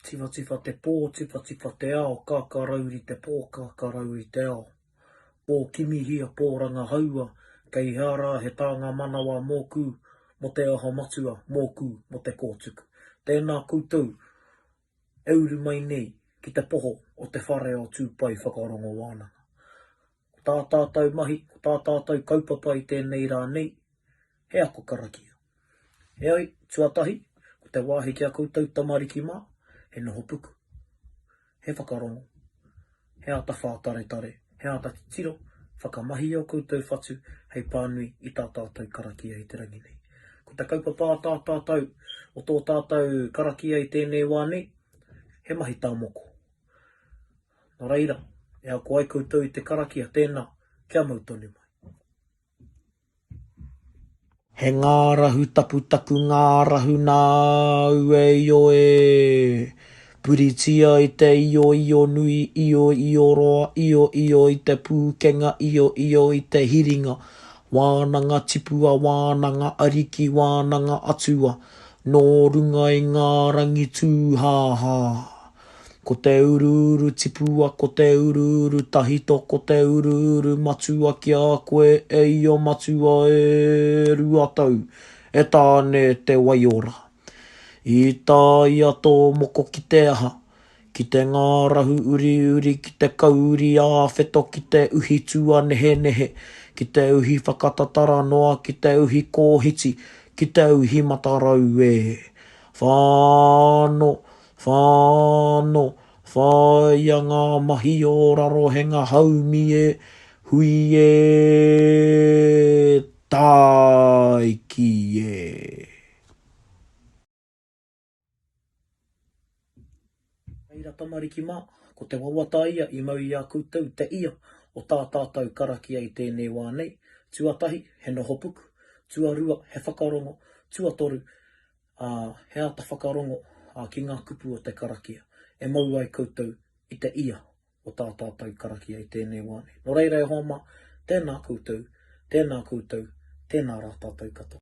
Tiwhatiwha te pō, tiwhatiwha te ao, kākārauri te pō, kākārauri te ao. Pō kimihia, pō rangahaua, kei hea rā he tānga manawa mōku, mō te aha matua, mōku, mō te kōtuku. Tēnā koutou e uru mai nei ki te poho o te whare o Tūpai Whakarongo Wānanga. ko tā tātou mahi, ko tā tātou kaupapa i tēnei rā nei, he ako karakia. Heoi, tuatahi, ko te wāhi ki a koutou tamariki mā, he noho puku, he whakarongo, he āta whātaretare, he āta titiro, whakamahi i ō koutou whatu hei pānui i tā tātou karakia i te rangi nei. Ko te kaupapa a tā tātou, o tō tātou karakia i tēnei wā nei, he mahi tā moko. Nō reira, e ako ai koutou i te karakia tēnā, kia mau tonu mai. He ngārahu tapu taku ngārahu nā aue io e! Puritia i te io io nui io io roa io io i te pūkenga io io i te hiringa wānanga tipua wānanga ariki wānanga atua nō runga i ngā rangi tūhāhā Ko te uruuru tipua Ko te uruuru tahito Ko te uruuru matua ki a koe e ia matua e rua tau E Tāne te waiora I tā ia tō moko ki te aha Ki te ngārahu uriuri Ki te kauri āwheto Ki te uhi tuanehenehe Ki te uhi whakatatara noa Ki te uhi kōhiti Ki te uhi matarau e Whano Whano, Whāia ngā mahi o Rarohenga haumi e hui e Tāiki e. Reira tamariki mā, ko te wawata ia i mau i a koutou te ia o tā tātou karakia i tēnei wā nei, tuatahi, he noho puku, tuarua, he whakarongo, tuatoru, ā, he āta whakarongo ki ngā kupu o te karakia e mau ai koutou i te ia o tā tātou karakia i tēnei wā nei. Nō reira e hoa mā, tēnā koutou, tēnā koutou, tēnā rā tātou katoa.